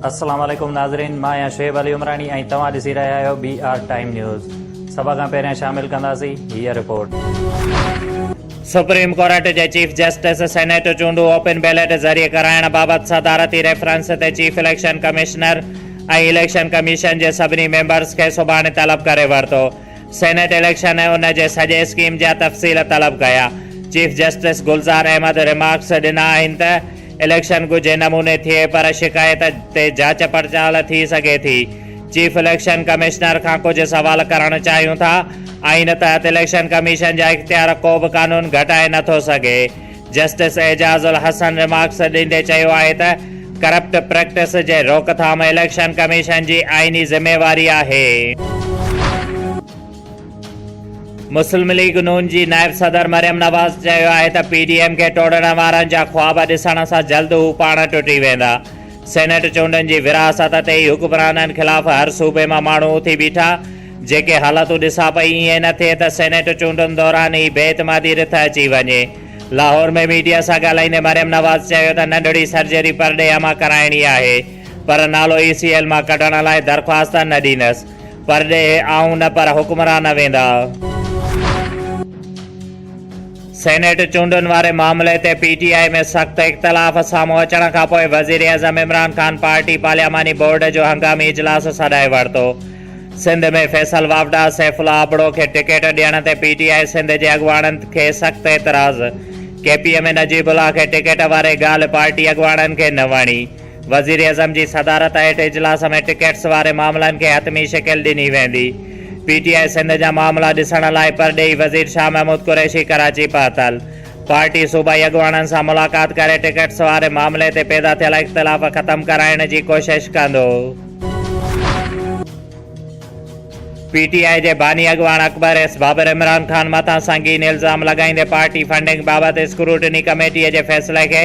السلام عليڪم ناظرين مان آهيان شعيب علي عمراڻي ۽ توهان ڏسي رهيا آهيو بي آر ٽائيم نيوز سڀ کان پهريان شامل ڪنداسين هي رپورٽ سپريم ڪورٽ جي چيف جسٽس سينيٽ چونڊون اوپن بيلٽ ذريعي ڪرائڻ بابت صدارتي ريفرنس تي chief election commissioner ۽ election commission جي سڀني ميمبرز کي سڀاڻي طلب ڪري ورتو سينيٽ اليڪشن ۽ ان جي سڄي اسڪيم جا تفصيل طلب ڪيا. Chief justice Gulzar Ahmed remarks ڏنا آهن ته اليڪشن ڳجهي نموني ٿئي پر شڪايت تي جاچ پڙتال ٿي سگهي ٿي. چيف اليڪشن ڪمشنر کان ڪجهه سوال ڪرڻ چاهيون ٿا. آئين تحت اليڪشن ڪميشن جا اختيار ڪو به قانون گهٽائي نه ٿو سگهي. جسٽس اعجاز الحسن رمارڪس ڏيندي چيو آهي ته ڪرپٽ پريڪٽس جي روڪٿام اليڪشن ڪميشن جي آئيني ذميواري آهي. مسلم ليگ نون جي نائب صدر مريم نواز چيو آهي ته پي ڊي ايم کي ٽوڙڻ وارن جا خواب ڏسڻ سان جلد هو پاڻ ٽٽي ويندا، سينيٽ چونڊن جي ورهاست تي ئي حڪمرانن خلاف هر صوبي مان ماڻهو اٿي بيٺا، جيڪي حالتون ڏسان پئي ائين نه ٿئي ته سينيٽ چونڊن دوران ئي بي اعتمادي رٿ اچي وڃي. لاهور ۾ ميڊيا سان ڳالهائيندي مريم نواز چيو ته ننڍڙي سرجري پرڏيهه مان ڪرائڻي آهي پر نالو اي سي ايل مان ڪڍڻ لاء درخواست نه ڏيندس، پرڏيهه آئون نه پر حڪمران ويندا. سينيٽ چونڊن واري معاملي تي پي ٽي آء ۾ سخت اختلاف سامهون اچڻ کانپوء وزيراعظم عمران خان پارٽي پارلياماني بورڊ جو هنگامي اجلاس سڏائي ورتو. سنڌ ۾ فيصل واوڊا، سيف الله ابڙو کي ٽڪيٽ ڏيڻ تي پي ٽي آء سنڌ جي اڳواڻن کي سخت اعتراض، K P M Najeeb Ullah کي ٽڪيٽ واري ڳالهه پارٽي اڳواڻن کي نه وڻي، وزيراعظم جي صدارت هيٺ اجلاس ۾ ٽڪيٽس واري معاملن کي حتمي شڪل ڏني ويندي، پي ٽي آء سنڌ جا معاملا ڏسڻ لاء پرڏيهي وزير شاهه محمود قريشي ڪراچي پهتل، پارٽي صوبائي اڳواڻن سان ملاقات ڪري ٽڪيٽس واري معاملي تي پيدا ٿيل اختلاف ختم ڪرائڻ جي ڪوشش ڪندو. پي ٽي آء جي باني اڳواڻ اڪبر ايس بابر عمران خان مٿان سنگين الزام لڳائيندي پارٽي فنڊنگ بابت اسڪروٽني ڪميٽي جي فيصلي کي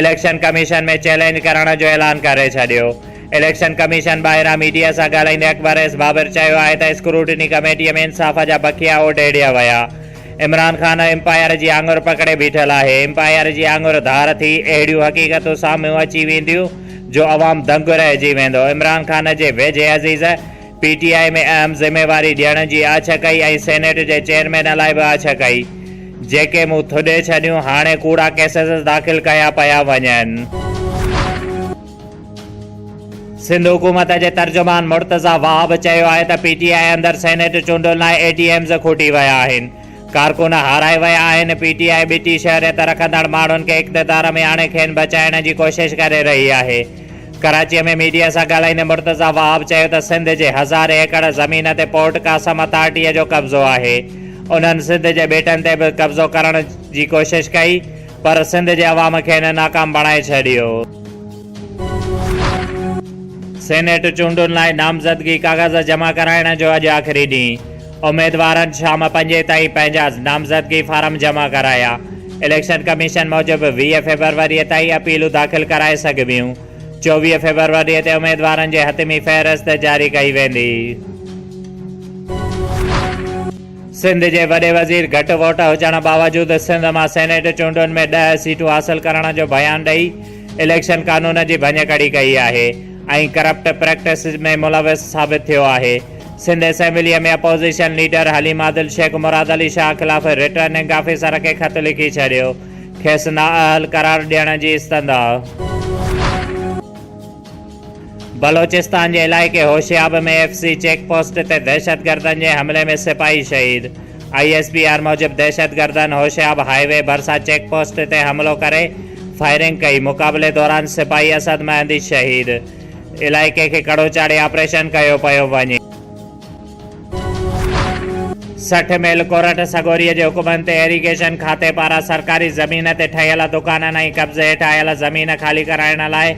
اليڪشن ڪميشن ۾ چئلينج ڪرڻ جو اعلان ڪري ڇڏيو. اليڪشن ڪميشن ٻاهران ميڊيا سان ڳالهائيندي اڪبر ايس بابر چيو آهي ته اسڪروٽني ڪميٽي ۾ انصاف جا بکيا اوڍيڙيا ويا. عمران خان امپائر جي آڱر پڪڙي بيٺل آهي، امپائر جي آڱر ڌار ٿي اهڙيون حقيقتون سامهون اچي وينديون جو عوام دنگ رهجي ويندو، عمران خان جي ويجهي عزيز پي ٽي آء ۾ اهم ذميواري ڏيڻ جي آڇ ڪئي ۽ سينيٽ جي چيئرمين لاء به آڇ ڪئي جيڪي مون ٿڏي ڇڏيون، هاڻي ڪوڙا ڪيسز داخل ڪيا پيا وڃن. سنڌ حڪومت جي ترجمان مرتضيٰ وهاب چيو آهي ته پي ٽي آء اندر سينيٽ چونڊن لاء اي ٽي ايمز کوٽي ويا آهن، ڪارڪن هارائي ويا آهن، پي ٽي آء ٻٽي شهريت رکندڙ ماڻهن کي اقتدار ۾ آڻي کين بچائڻ جي ڪوشش ڪري رهي آهي. ڪراچي ۾ ميڊيا سان ڳالهائيندي مرتضيٰ وهاب چيو ته سنڌ جي هزارين ايڪڙ زمين تي پورٽ قاسم اٿارٽيء جو قبضو آهي، انهن سنڌ جي ٻيٽن تي به قبضو ڪرڻ جي ڪوشش ڪئي، پر سنڌ جي عوام کين ناڪام بڻائي ڇڏيو. سينيٽ چونڊن لاء نامزدگي ڪاغذ جمع ڪرائڻ جو اڄ آخري ڏينهن، اميدوارن شام پنجين تائين پنهنجا نامزدگي فارم جمع ڪرايا، اليڪشن ڪميشن موجب ويهه فيبروري تائين اپيلون داخل ڪرائي سگهبيون، چوويهه فيبروري تي اميدوارن جي حتمي فهرست جاري ڪئي ويندي. سنڌ جي وڏي وزير گهٽ ووٽ هجڻ باوجود سنڌ مان سينيٽ چونڊن ۾ ڏهه سيٽون حاصل ڪرڻ جو بيان ڏئي اليڪشن قانون جي ڀڃڪڙي ڪئي آهي ۽ ڪرپٽ پريڪٽسز ۾ ملوث ثابت ٿيو آهي سنڌ اسيمبليء ۾ اپوزيشن ليڊر حليما دل شيخ مراد علي شاهه خلاف رٽرننگ آفيسر کي خط لکي ڇڏيو کيس نااهل قرار ڏيڻ جي استدعا بلوچستان جي علائقي Hoshab ۾ F C check post تي دهشتگردن جي حملي ۾ سپاهي شهيد، آء ايس پي آر موجب دهشتگردن هوشياب هاء وي ڀرسان چيڪ پوسٽ تي حملو ڪري فائرنگ ڪئي، مقابلي دوران سپاهي اسد مهندي شهيد، علائقي کي ڪڙو چاڙهي آپريشن ڪيو پيو وڃي. سٺ ميل ڪورٽ سڳوريء جي حڪمن تي ايريگيشن کاتي پاران سرڪاري زمين تي ٺهيل دڪانن ۽ قبضي هيٺ آيل زمين خالي ڪرائڻ لاء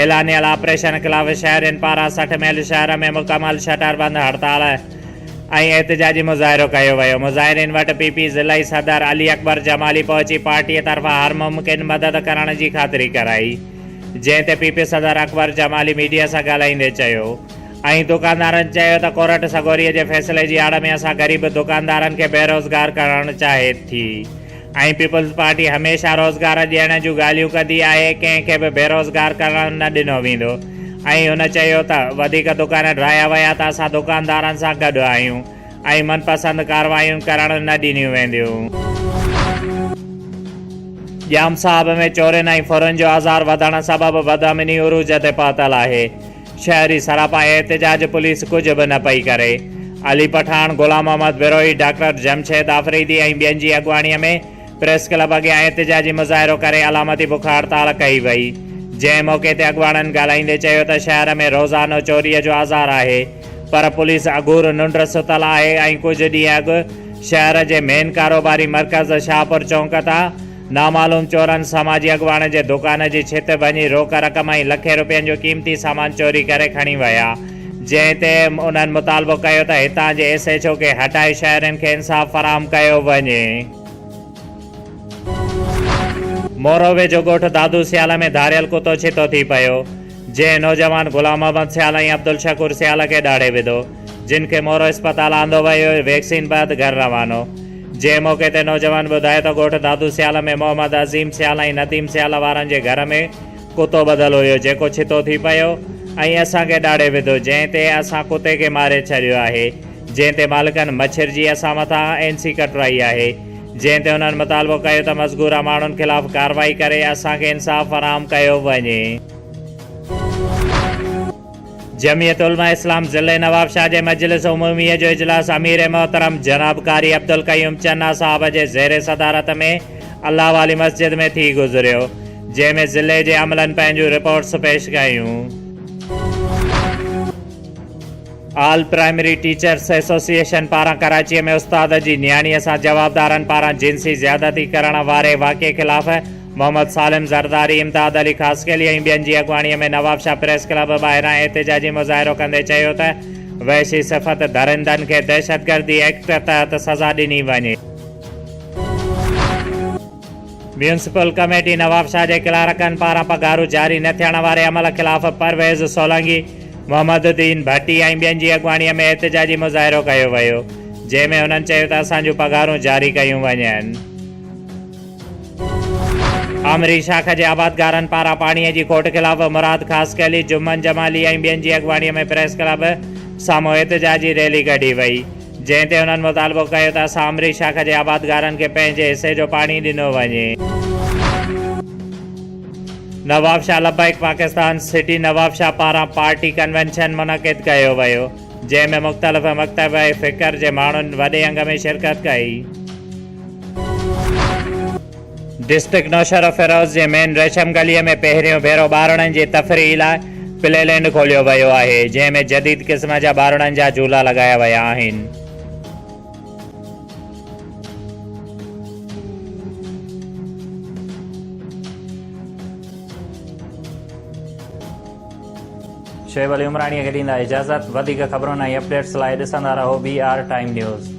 اعلانيل آپريشن خلاف شهرين پاران سٺ ميل شهر ۾ مڪمل شٽر بند هڙتال ۽ احتجاجي مظاهرو ڪيو ويو. مظاهرين وٽ پ پ ضلعي صدر علي اڪبر جمالي پهچي پارٽيء طرفان هر ممڪن مدد ڪرڻ جي خاطري ڪرائي جنهن تي پ پ صدر اڪبر جمالي ميڊيا سان ڳالهائيندي چيو اهي دڪاندارن چيو ته ڪورٽ سڳوري جي فيصلي جي آڙ ۾ اسان غريب دڪاندارن کي بيروزگار ڪرڻ چاهي ٿي ۽ پيپلز پارٽي هميشه روزگار ڏيڻ جون ڳالهيون ڪندي آهي ڪنهن کي به بيروزگار ڪرڻ نه ڏنو ويندو ۽ هن چيو ته وڌيڪ دڪان ڊاهيا ويا ته اسان دڪاندارن سان گڏ آهيون ۽ من پسند ڪارروايون ڪرڻ نه ڏنيون وينديون. ڄام صاحب ۾ چورين ۽ ڦرن جو آزار وڌڻ سبب بدامني عروج تي پهتل آهي. شهري سراپا احتجاج پوليس ڪجهه به نه پئي ڪري علي پٺاڻ، غلام محمد بروهي، ڊاڪٽر جمشيد آفريدي ۽ ٻين جي اڳواڻي ۾ پريس ڪلب اڳيان احتجاجي مظاهرو ڪري علامتي بک هڙتال ڪئي وئي جنهن موقعي تي اڳواڻن ڳالهائيندي چيو ته شهر ۾ روزانو چوري جو آزار آهي پر پوليس اگهور ننڊ ستل آهي ۽ ڪجهه ڏينهن اڳ شهر جي مين ڪاروباري مرڪز شاهپور چونڪ تان نامعلوم چورن سماجي اڳواڻ جي دڪان جي ڇت ڀڃي روڪ رقم ۽ لکين روپين جو قيمتي سامان چوري ڪري کڻي ويا جنهن تي انهن مطالبو ڪيو ته هتان جي ايس ايڇ او کي هٽائي شهرين کي انصاف فراهم ڪيو وڃي. مورو ويجهو ڳوٺ دادو سيالا ۾ ڌاڙيل ڪتو ڇتو ٿي پيو. جنهن نوجوان غلام محمد سيال ۽ عبدالشڪور سيال کي ڏاڙهي وڌو، جن کي مورو اسپتال آندو ويو ۽ ويڪسين بعد گهر روانو. جنهن موقعي تي نوجوان ٻڌايو ته ڳوٺ دادو سيال ۾ محمد عظيم سيال ۽ نديم سيال وارن جي گهر ۾ ڪتو ٻڌل هيو جيڪو ڇتو ٿي پيو ۽ اسان کي ڏاڙهي وڌو جنهن تي اسان ڪتي کي ماري ڇڏيو آهي جنهن تي مالڪن مڇرجي اسان مٿان اين سي ڪٽرائي آهي. جنهن تي انهن مطالبو ڪيو ته مذڪوره ماڻهن خلاف ڪارروائي ڪري اسان کي انصاف فراهم ڪيو وڃي. جمعيت علماء اسلام ضلعي نوابشاهه جي مجلس عمومي جو اجلاس امير محترم جناب قاري عبدالقيوم چنا صاحب جي زير صدارت ۾ الله والي مسجد ۾ ٿي گذريو جنهن ۾ ضلعي جي عملن پنهنجون رپورٽس پيش ڪيون. آل پرائمري ٽيچرس ايسوسيئيشن پاران ڪراچي ۾ استاد جي نياڻي سان جوابدارن پاران جنسي زيادتي ڪرڻ واري واقعي خلاف محمد سالم زرداري، امداد علي خاصخيلي ۽ ٻين جي اڳواڻي ۾ نوابشاهه پريس ڪلب ٻاهران احتجاجي مظاهرو ڪندي چيو ته وحشي صفت ڌرندن کي دهشتگردي ايڪٽ تحت سزا ڏني وڃي. ميونسپل ڪميٽي نوابشاهه جي ڪلارڪن پاران پگهارون جاري نه ٿيڻ واري عمل خلاف پرويز سولنگي، محمد الدين ڀٽي ۽ ٻين جي اڳواڻي ۾ احتجاجي مظاهرو ڪيو ويو، جنهن ۾ هنن چيو ته اسان جون پگهارون جاري ڪيون وڃن. آمري شاخ جي آبادگارن پاران پاڻي جي کوٽ خلاف مراد خاصخيلي، جمن جمالي ۽ ٻين جي اڳواڻي ۾ پريس ڪلب سامهون احتجاجي ريلي ڪڍي وئي، جنهن تي هنن مطالبو ڪيو ته اسان امري شاخ جي آبادگارن کي پنهنجي حصي جو پاڻي ڏنو وڃي. نوابشاهه لبيڪ پاڪستان سٽي نوابشاهه پاران پارٽي ڪنوينشن منعقد ڪيو ويو جنهن ۾ مختلف مڪتب فڪر جي ماڻهن وڏي انگ ۾ شرڪت ڪئي. ڊسٽرڪٽ نوشهروفيروز جي مين ريشم گلي ۾ پهريون ڀيرو ٻارڙن جي تفريح لاء پلي لينڊ کوليو ويو آهي، جنهن ۾ جديد قسم جا ٻارڙن جا جهولا لڳايا ويا آهن. شعيب علي عمراڻيء کي ڏيندا اجازت، وڌيڪ خبرن ۽ اپڊيٽس لاء ڏسندا رهو بي آر ٽائيم نيوز.